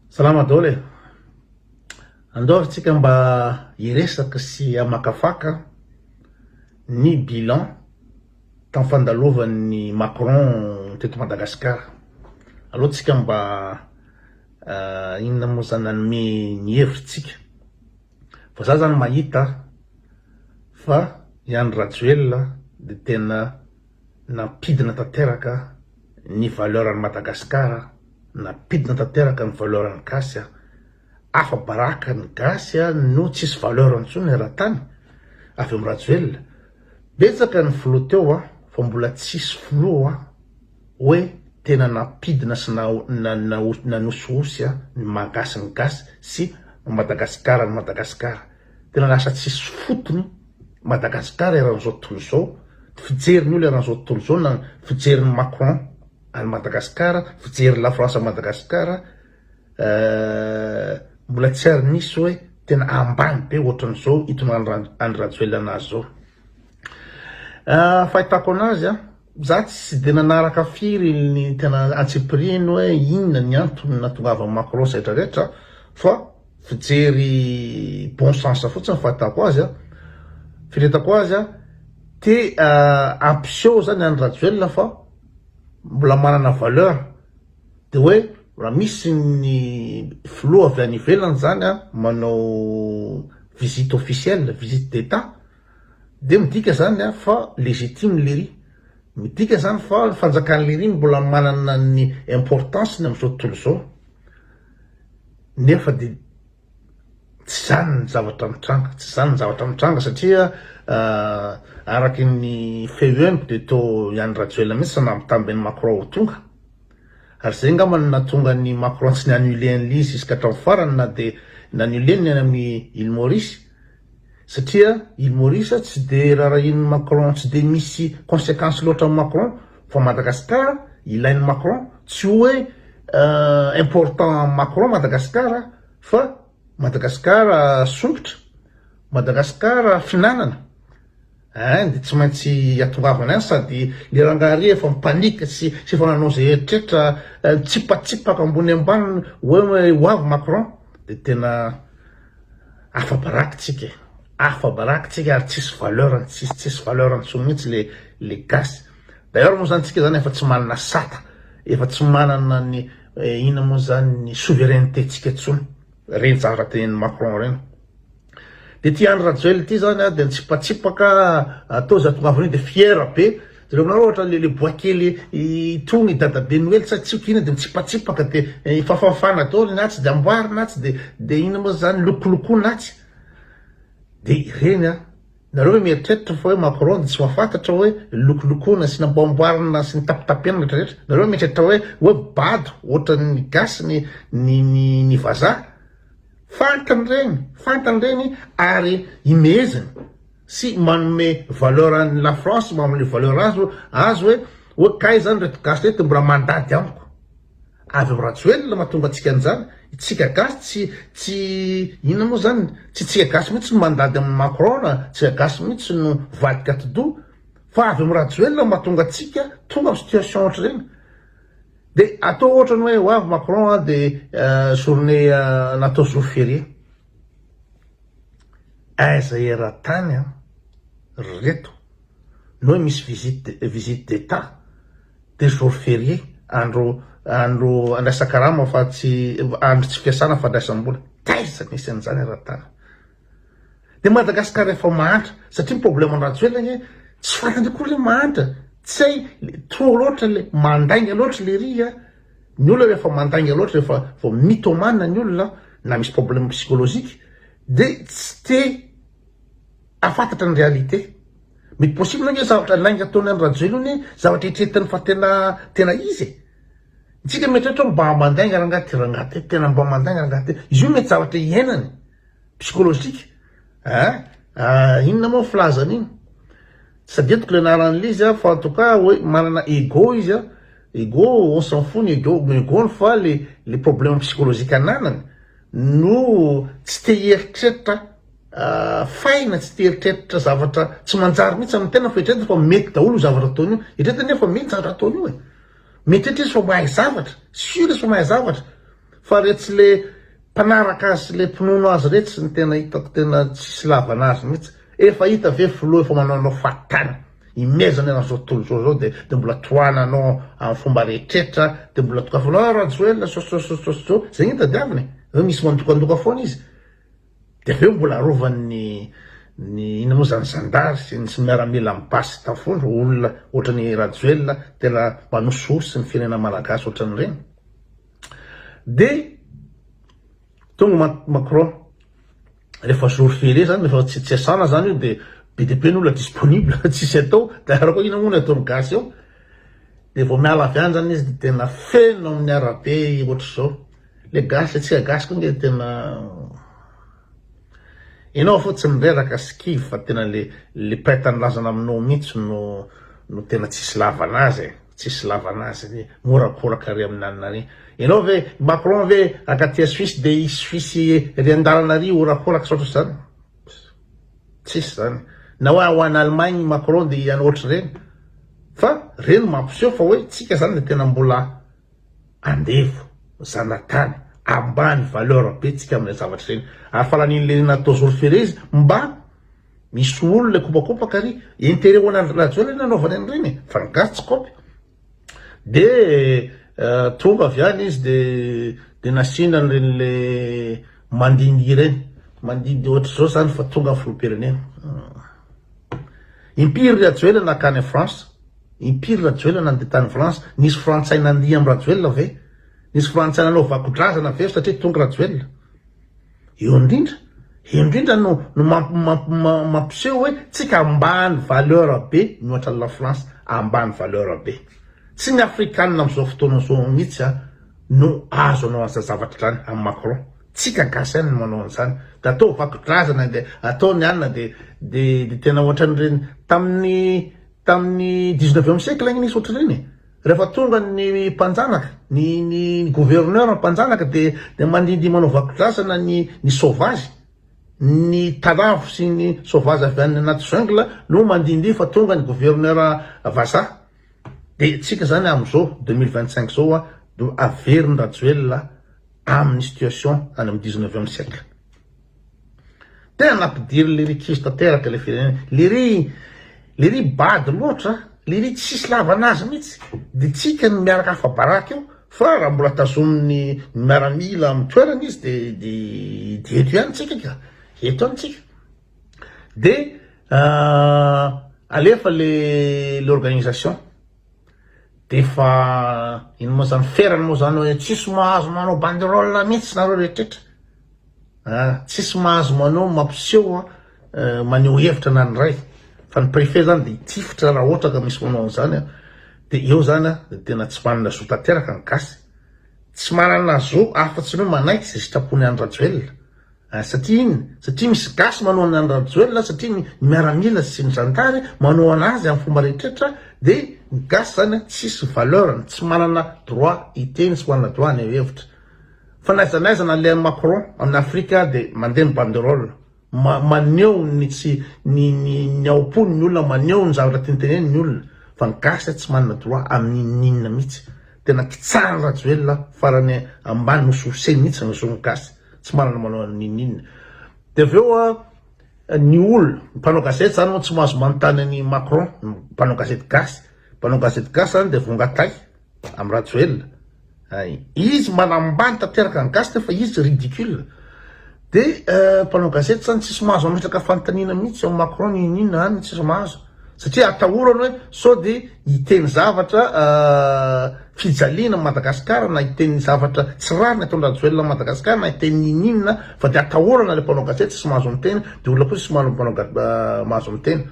Salama daholo e! Andao ary tsika mba hiresaka sy hamakafaka ny bilan tam fandalovan'i Macron teto Madagascar. Aleo tsika mba inona mo zany nanome ny hevitsika. Fa za zany mahita fa i Andry Rajoelina de tena. Nampidina tanteraka ny valeur an'i Madagascar, nampidina tanteraka ny valeur an'ny gasy, afa baraka ny gasy no tsisy valeur intsony eran-tany avy amin'i Rajoelina, betsaka ny filoha teo fa mbola tsisy filoha hoe tena nampidina sy nanosihosy ny maha gasy ny gasy sy ny Madagascar ny Madagascar. Tena lasa tsisy fotony Madagascar eran'izao tontolo izao, ny fijerin'ny olona eran'izao tontolo izao na ny fijerin'i Macron an'i Madagascar, fijerin'i la France an'i Madagascar eh, mbola tsy ary nisy hoe tena ambany be ohatran'izao hitondrana an'i Rajoelina azy izao. Eh, fahitako anazy an, za tsy dia nanaraka firy ny tena antsipirihiny hoe inona ny antony nahatongavan'i Macron izay rehetra rehetra fa, fijery bon sens fotsiny ny fahitako azy a, firetako azy a, te hampiseho zany an'i Rajoelina fa mbola manana valeur, de hoe raha misy ny filoha avy any ivelany zany a manao visite officielle, visite d'Etat, de midika zany a fa legitime lery, midika zany fa ny fanjakan'i lery mbola manana ny importance-ny amin'izao tontolo izao. nefa dia tsy zany ny zavatra mitranga, tsy zany ny zavatra mitranga satria araky ny feo henoko dia toa i Andry Rajoelina mihitsy no nampitamby an'i Macron ho tonga, ary zay angamba no nahatonga an'i Macron tsy ni-annuler an'ilay izy jusqu'à hatramin'ny farany na dia ni-annuler ny any amin'ny Île Maurice, satria i Maurice tsy de rarahin'i Macron tsy de misy consequence loatra amin'i Macron fa Madagascar ilain'i Macron tsy hoe important amin'i Macron Madagascar fa Madagascar sompitra Madagascar fihinanana Hein de tsy maintsy atongavana ihany sady le rangaha ry efa mi-panique sy sy efa nanao ze eritreritra mitsipatsipaka ambony ambany hoe ho avy Macron de tena afa baraky tsika e afa baraky tsika ary tsisy valeur ny tsisy tsisy valeur ntsony mintsy le le gasy d'ailleurs moa zany tsika zany efa tsy manana sata efa tsy manana ny ina moa zany ny souveraineté tsika tsony reny zavatra teneniny Macron reny. De ty Andry Rajoel ty zany a de nitsipatsipaka tao za tongavanio de fier be jereo aminareo ohatra le le bois kely itony dadabe noely sa tsy ko ina de nitsipatsipaka de fafafana daoly ny atsy de amboarina atsy de de ina mo zany lokolokona atsy de ireny a nareo ve mieritreritra fa hoe Macron de tsy mahafantatra hoe lokolokona sy namboamboarina sy nitapitapena rehetra rehetra nareo mieritreritra hoe hoe bado ohatran'ny gasy ny ny ny vazaha Fantany reny, fantany reny ary imeheziny sy manome valeur an'i la France, manome valeur azy hoe, azy hoe, hoe kay zany reto gasy reto mbola mandady amiko. Avy am Rajoelina mahatonga antsika an'izany, itsika gasy tsy, tsy, inona moa zany, tsy itsika gasy mihitsy no mandady amin'i Macron na itsika gasy mihitsy no vadika atidoha, fa avy am Rajoelina mahatonga antsika tonga am situation ohatr'ireny. De atao otrany hoe ho avy Macron a de journée natao jour férié. Aiza eran-tany an ry reto ny hoe misy visite visite d'Etat de jour férié andro andro andraisan-karama fa tsy andro tsy fiasana fandraisam-bola taiza misy an'izany eran-tany. Dia Madagascar efa mahantra satria ny problème an'i Rajoelina anie tsy fantany akory le mahantra tsy hay trop loatra le mandainga loatra le ry a ny olona rehefa mandainga loatra rehefa vao mythomane ny olona na misy problème psychologique de tsy te afantatra ny réalité mety possible anie zavatra lainga ataony an'i Rajoelina anie zavatra eritreritany fa tena tena izy e tsika mieritreritra mba mandainga rangahy ty rangahy ty tena mba mandainga rangahy ty izy io mety zavatra iainany psychologique ah inona moa ny filazana iny? tsadidiko le anaran'le izy fa en tout cas hoe manana ego izy an, ego on s'en fout ny ego ny ego-ny fa le le problème psychologique ananany no tsy te hieritreritra faina tsy te hieritreritra zavatra tsy manjary mihitsy amin'ny tena fa eritreretiny fa mety daholo io zavatra ataony io, eritreretiny anefa fa mety zavatra ataony io e, mieritreretra izy fa mahay zavatra, sur izy fa mahay zavatra. Fa retsy le mpanaraka azy sy le mpinono azy retsy no tena hitako tena tsisy lavana azy mihitsy, efa hita ve filoha efa manao anao fahatany, imezana eran zao tontolo zao zao de de mbola tohana anao am fomba rehetretra de mbola dokafanao ah rajoelina sososososososô zay no itadiavina e, zao misy mandokandoka foana izy de avy eo mbola arovany ny ny ino mo zany zandary sy ny miaramila am basy tafondro olona otrany rajoelina tena manosihosy ny firenena malagasy otrany reny. Dia tonga Macron, rehefa jour férié zany, rehefa tsy asana zany io dia be dia be ny olona disponible, tsisy atao, dia ary koa inona moa no ataon'ny gasy eo, dia vao miala avy any zany izy dia tena feno amin'ny arabe ohatr'izao, le gasy, antsika gasy koa nge tena. Enao fo tsy mireraka sy kivy fa tena le le prête anilazana aminao mintsy no no tena tsisy lavana azy e, tsisy lavana azy ny mihorakoraka ary aminanina ary enao ve Macron ve aka aty a Suisse de i Suisse ery andalana ary horakoraka saotra zany tsisy zany na hoe ho any Allemagne i Macron de ianao ohatry reny fa reny mampiseho fa hoe tsika zany le tena mbola andevo, zanatany, ambany valeur be tsika amle zavatra zeny ary fa lanin le natao zoroferezy mba misy olona kopakopaka ary interet ho anandry rajoelina nanaovany anreny e fa ny gasy tsy kopy de tonga avy any izy de de nasiana anreny le mandindy ireny mandindy ohatr'zao zany fa tonga ny filohampirenena impiry rajoelina nakany france Impiry Rajoelina nandeha tany France? Nisy frantsay nandihy am Rajoelina ve? Nisy frantsay nanao vakodrazana ve satria tonga Rajoelina? Eo indrindra, eo indrindra no no mampiseho hoe tsika ambany valeur be mihoatra ny la France, ambany valeur be. Tsy ny afrikanina amzao fotoana zao mitsy an no azo anao anzany zavatra zany am Macron. Tsika gasy ihany no manao anzany. De atao vakodrazana de atao ny anona de de tena ohatranireny taminy Tamin'ny dix-neuvième siècle anie nisy ohatr'ireny e! Rehefa tonga ny mpanjanaka, ny ny ny gouverneur mpanjanaka dia dia mandindia manao vakodrazana ny ny sauvage, ny talavo sy ny sauvage avy any anaty jungle no mandindia fa tonga ny gouverneur vazaha. Dia antsika zany amin'izao deux mille vingt-cinq zao a, do averiny Rajoelina amin'ny situation any amin'ny dix-neuvième siècle. Tena nampidirin lery kizo tanteraka le firenena lery lery bado loatra lery tsisy lavana azy mitsy de tsika no miaraka afabaraka eo fa raha mbola tazomin'ny miaramila am toerana izy de de de eto ihany tsika ka eto ihany tsika de alefa le l'organisation D'efa ino moa zany ferany moa zany hoe tsisy mahazo manao banderole mihitsy nareo rehetrretra ah tsisy mahazo manao mampiseho an eh, maneho hevitra na ny iray fa ny préfet zany de hitifitra raha ohatra ka misy manao an'izany an de eo zany an de tena tsy manana zo tanteraka ny gasy tsy manana zo afa-tsy ny hoe manaiky ze sitrapony Andry Rajoelina Ary satria inn? Satria misy gasy manohana an'i Rajoelina, satria ny miaramila sy ny zandary manohana azy amin'ny fomba rehetrretra dia ny gasy zany tsisy valeur-ny, tsy manana droit hiteny sy manana droit haneho hevitra. Fa n'aiza n'aiza na le an'i Macron amin'i Afrika dia mandeha ny banderole, maneho ny tsy ny ny ny aom-pony ny olona, maneho ny zavatra tiany tenenina ny olona, fa ny gasy tsy manana droit amin'ny inn n'inn mihitsy. Tena kitsarin'i Rajoelina farany ambany, nosohoseny mihitsy ny zon'ny gasy. tsy manana manao n'inon'inona dia avy eo an ny olona ny mpanao gazety zany moa tsy mahazo manontany an'i Macron ny mpanao gazety gasy mpanao gazety gasy zany dia vongatay amin'i Rajoelina ay izy manambany tanteraka ny gasy nefa izy ridicule dia mpanao gazety zany tsisy mahazo mametraka fanontaniana mihitsy ao Macron n'inon'inona any tsisy mahazo satria atahorany hoe sao dia hiteny zavatra fijaliana an'i Madagasikara na hiteny zavatra tsy rariny ataon'i Rajoelina an'i Madagasikara na hiteny ininona fa dia atahorana ilay mpanao gazety tsy mahazo miteny dia olona kosa tsy mahazo mpanao mahazo miteny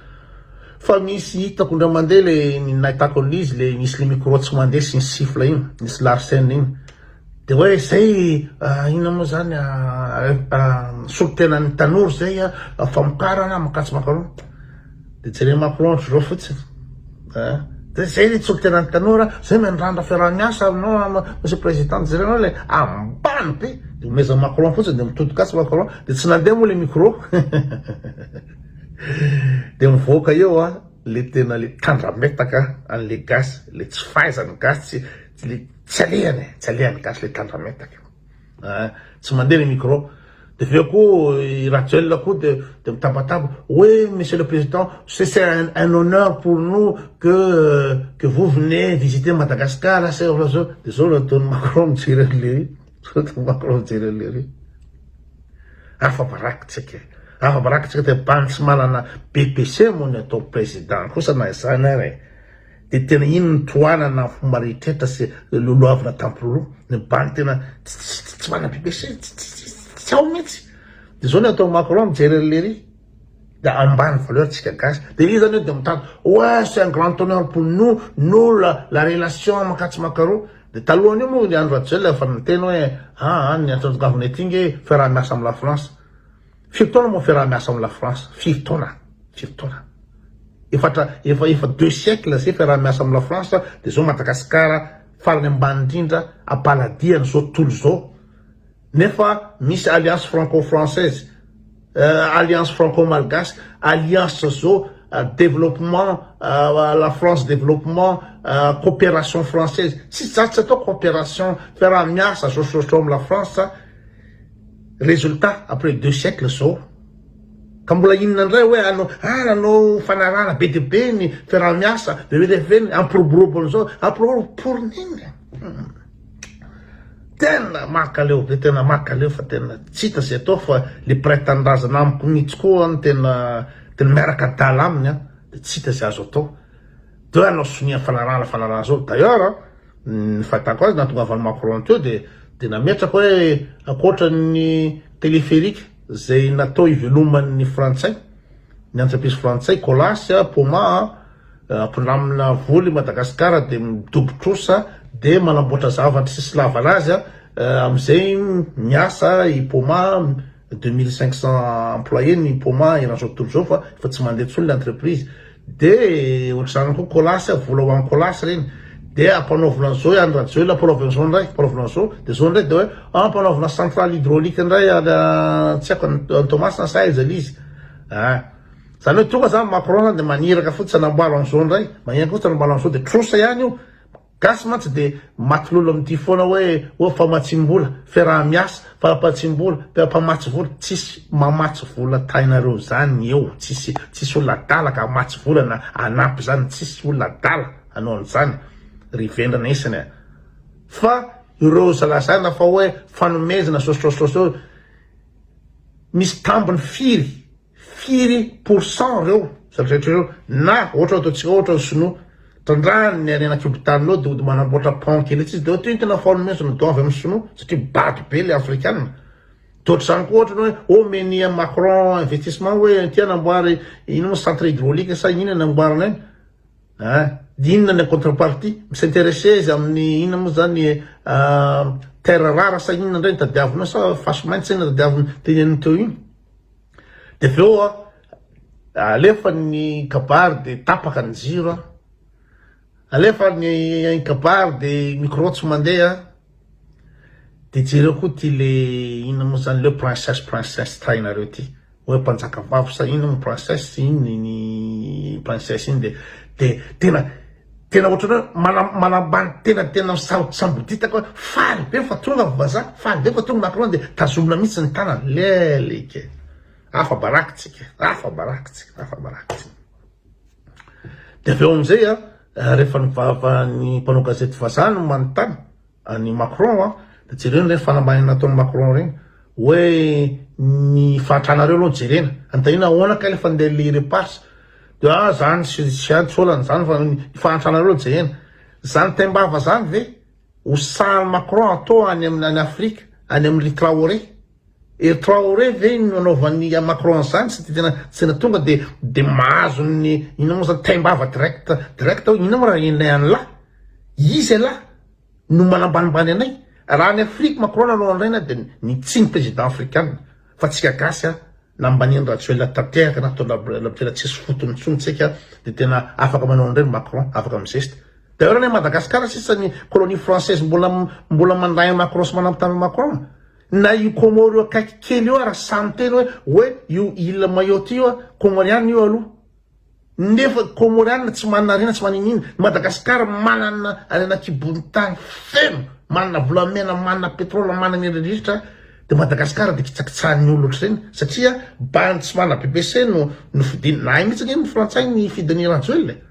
fa misy hitako indray mandeha le nahitako an'izy le misy le micro tsy mandeha sy ny sifla iny misy larsen iny dia hoe zay inona moa zany solontenan'ny tanora zay famokarana makatsy makaroa Dia jereo Macron ohatry zao fotsiny a. Dia zay le tsoky tenan'ny tanora, zay mandrandra fiaraha-miasa aminao Monsieur Président, dia jerenao le ambany be, dia omezan'i Macron fotsiny, dia mitodikatsy Macron, dia tsy nandeha moa le micro, dia mivoaka eo a, le tena le tandrametaka an'le gasy, le tsy fahaizan'ny gasy, le tsy alehany e, tsy alehan'ny gasy le tandrametaka. Eeh tsy mandeha le micro. De avy eo koa i Rajoelina koa de de mitabataba, oui monsieur le président ce c'est un un honneur pour nous que que vous venez visiter Madagascar a ce ohatr'izao, de zao ataon'i Macron mijery an'i Lery, zao ataon'i Macron mijery an'i Lery. Afa-baraka tsika e, afa-baraka tsika de bantsimalana be PC moa ny atao président kosa na izany ary e. Dia tena iny ny tohanana fomba rehetrrehetra sy lolohavina tampiroroa, ny banky tena tsy manampy be sy tsy ao mihitsy. Dia zao ny atao Macron mijery an'ilay ery dia ambany valeur tsika gasy. Dia iza anio dia mitady ouais c'est un grand honneur pour nous, nous la la relation mankatso makaroa. Dia talohan'io moa ry Andry Rajoelina efa niteny hoe aa ny antsonjongavana ety nge fiaraha-miasa amin'ny la France. Firy taona moa fiaraha miasa am la France firy taona firy taona efatra efa efa deux siècle zay fiaraha miasa am la France de zao Madagascar farany ambany indrindra a paladiany zao tontolo zao nefa misy alliance franco française euh alliance franco malgache alliance zao développement euh la France développement euh coopération française tsisy zany tsy atao coopération fiaraha miasa zao zao zao am la France Résultat après deux siècles zao ka mbola inona indray hoe hanao ah nanao fanarahana be dia be ny fiaraha-miasa dia hoe rehefa hoe hampiroborobo an'izao hampiroborobo pour n'inona tena makaleo ve tena makaleo fa tena tsy hita izay atao fa le mpiray tanindrazana amiko mihitsy koa no tena tena miaraka adala aminy an dia tsy hita izay azo atao dia hoe hanao sonia fanarahana fanarahana zao d'ailleurs Ny fahitako azy nahatongavan'i Macron teo dia dia nametraka hoe ankoatra ny téléphérique izay natao hiveloman'ny frantsay, ny entreprise frantsay Colas, Poma, mpindramina vola i Madagasikara dia midobo trosa dia manamboatra zavatra sy sy lavan azy amin'izay miasa i Poma, deux mille cinq cents employés ny Poma eran'izao tontolo izao fa efa tsy mandeha intsony ilay entreprise. De otrzany koa colas vola ho an colas reny de ampanaovina zao ihany rajoelina ampanaovina zao ndray ampanaovina zao de zao ndray de oe ah ampanaovina centrale hydraulique ndray tsy aiko any toamasina sa aiza le izy ah zany hoe tonga zany macron zany de maniraka fotsiny anamboaro anzao ndray magniraka fotsiny anamboaro anzao de trosa ihany io Gasy mantsy dia matilolo amin'ity foana hoe oh famatsiam-bola, fiaraha-miasa, fahampatsiam-bola, mpamatsy vola, tsisy mamatsy vola tahinareo zany eo, tsisy tsisy olona adala ka hamatsy vola na hanampy zany, tsisy olona adala hanao an'izany ry vendrana isany a! Fa ireo zalazaina fa hoe fanomezana sosotrosotro eo misy tambiny firy Firy pour cent reo zato rehetra reo na ohatra ataontsika ohatra ny sinoa trandrahany ny harena kibontaninao de hody manamboatra pont kely etsy izy de ohatra io ny tena fahaolony mihitsy no doavy amin'ny sinoa satria bado be le afrikana de ohatr'izany koa ohatra ny hoe oh omeny an'i macron investissement hoe aty hanamboary ino moa centre hydraulique sa inona ny amboarina any a de inona ny contrepartie mi-s'intéresser izy amin'ny inona moa zany terre rare sa inona indray ny tadiaviny ao sa fasimainty sa inona tadiaviny teneniny teo iny Dia avy eo alefa ny kabary dia tapaka ny jiro, alefa ny kabary dia micro tsy mandeha, dia jereo koa ty le inona moa zany le princesse princesse trainareo ty hoe mpanjakavavy sa inona moa princesse sa inona iny princesse iny dia tena Tena ohatrany hoe manam manambany tena ny tena misabo samboditaka hoe faly be fa tonga ny vazaha, faly be fa tonga ny macron de tazomina mihitsy ny tanany, lelika e! afa baraky tsika e! afa baraky tsika, afa baraky tsika. De avy eo amizay a rehefa ny vava ny mpanao gazety vazaha no manontany, an'i Macron a, de jereo reny fanambahinana nataon'i Macron reny, hoe ny fahantranareo aloha no jerena, anontanina ahoana kay le fandehan'ny le repas, de ah zany sy tsy hay tsy olana zany fa ny fahantranareo aloha jerena, zany taim-bava zany ve ho sahan'i Macron atao any amin'ny any Afrika, any amin'ry Traoré. Ry Traoré ve iny nanaovan'i Macron an'izany tsy dia tena tsy tena tonga dia dia mahazo ny inona moa izany taim-bava direct direct hoe inona moa raha ren'ilay an'lah? Izy elah no manambanimbany anay? Raha any Afrique Macron nanao an'ireny aho dia ny tsy ny président afrikana fa tsika gasy aho nambanin'i Rajoelina tanteraka na tondra Rajoelina tena tsisy fotony intsony tsika dia tena afaka manao an'ireny Macron afaka mi-geste. D'ailleurs any Madagascar sisa ny colonie française mbola mbola mandà an'i Macron sy manambitamby an'i Macron. Na io Comore io akaiky kely io ara sahy miteny hoe hoe io Ile Mayotte io a, Comoriana io aloha. Nefa Comoriana tsy manana harena tsy maninina. Madagascar manana harena kibon'ny tany feno, manana volamena, manana petrole, manana erirritra, de Madagascar de kitsakitsahan'ny olona ohatr'ireny satria bandy tsy manana bbc no nofidiny. Nahay mihitsy ange ny frantsay nifidy an'i Rajoelina e.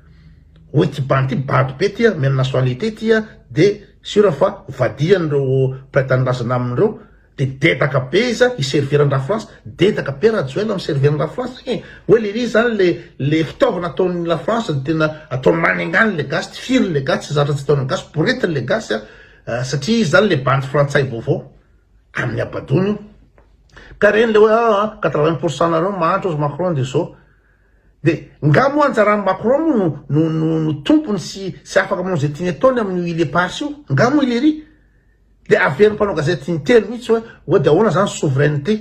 Hoe ty bandy ty bado be ty a, mena nationalité ty a, de. Sûr fa vadian reo mpiray tanindrazana aminy reo de dedaka be izy an hiservir an Lafrantsa, dedaka be Rajoel miservir an Lafrantsa igny hoe le izy zany le le fitaovana ataony Lafrantsa no tena ataony manengany le gasy tsy firy le gasy tsy zatra tsy ataony ny gasy boretiny le gasy an satria izy zany le bandy frantsay vaovao aminy abadony io ka reny le hoe aa quatre vingt pourcent nareo mahantra ozy Macron de zao De nga moa anjaran'i Macron moa no no no no tompony sy sy afaka manao ze tiany ataony amin'io île éparses io? Nga moa i lery? De averin'ny mpanao gazety intelo mitsy hoe hoe de ahoana zany souveraineté?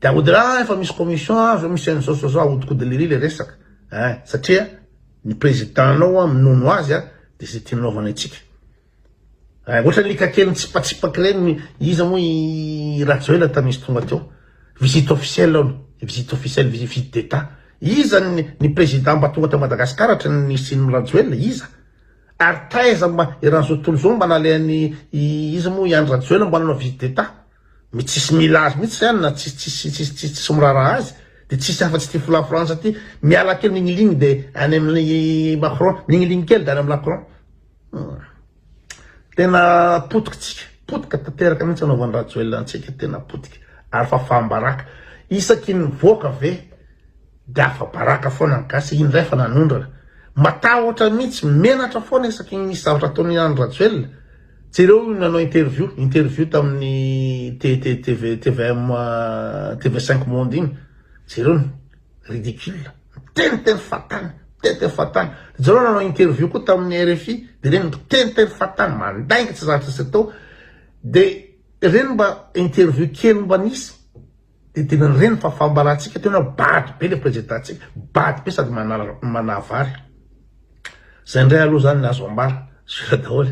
De aody hoe ah efa misy commission an, zao misy an'izao zao zao, ahodinkodin'i lery le resaka ein satria ny président-nao an minono azy an de ze tiany anaovana antsika. Ay ohatran'ny lika kely nitsipatsipaky ireny iza moa i Rajoelina tamin'izy tonga teo. Visite officielle hono, visite officielle, visite d'Etat. Iza ny président mba tonga tao Madagascar ohatran'ny Nisian'i Rajoelina, iza? Ary taiza mba i Ranzotoly zao mba nalehan'i iza moa i Andry Rajoelina mba nanao visite d'Etat? Mety tsisy mila azy mihitsy zany na tsisy miraharaha azy. Dia tsisy afa-tsy ity fola frantsa ity. Miala kely migniligny dia any amin'i Macron, migniligny kely dia any amin'i Lacron. Tena potika tsika, potika tanteraka mintsy anaovan'i Rajoelina antsika, tena potika, ary fafam-baraka, isaky ny mivoaka ve de afa-baraka foana ny gasy, indray efa nanondrana, matahotra mintsy, menatra foana isaky ny misy zavatra ataon'i Andry Rajoelina, jereo io nanao interview, interview tamin'ny tvm, tv5 monde iny, jereo Ridicule. Miteniteny fatana, miteniteny fatana. Ijareo nanao interview koa tamin'ny RFI, dia ireny miteniteny fatana, mandainga tsy zatra tsy atao. Dia ireny mba interview kely mba nisy, dia tena ireny fa fambarantsika teo na bado be ilay prezidantsika, bado be sady manavary. Izay indray aloha izany ny azo ambara, zero daholo.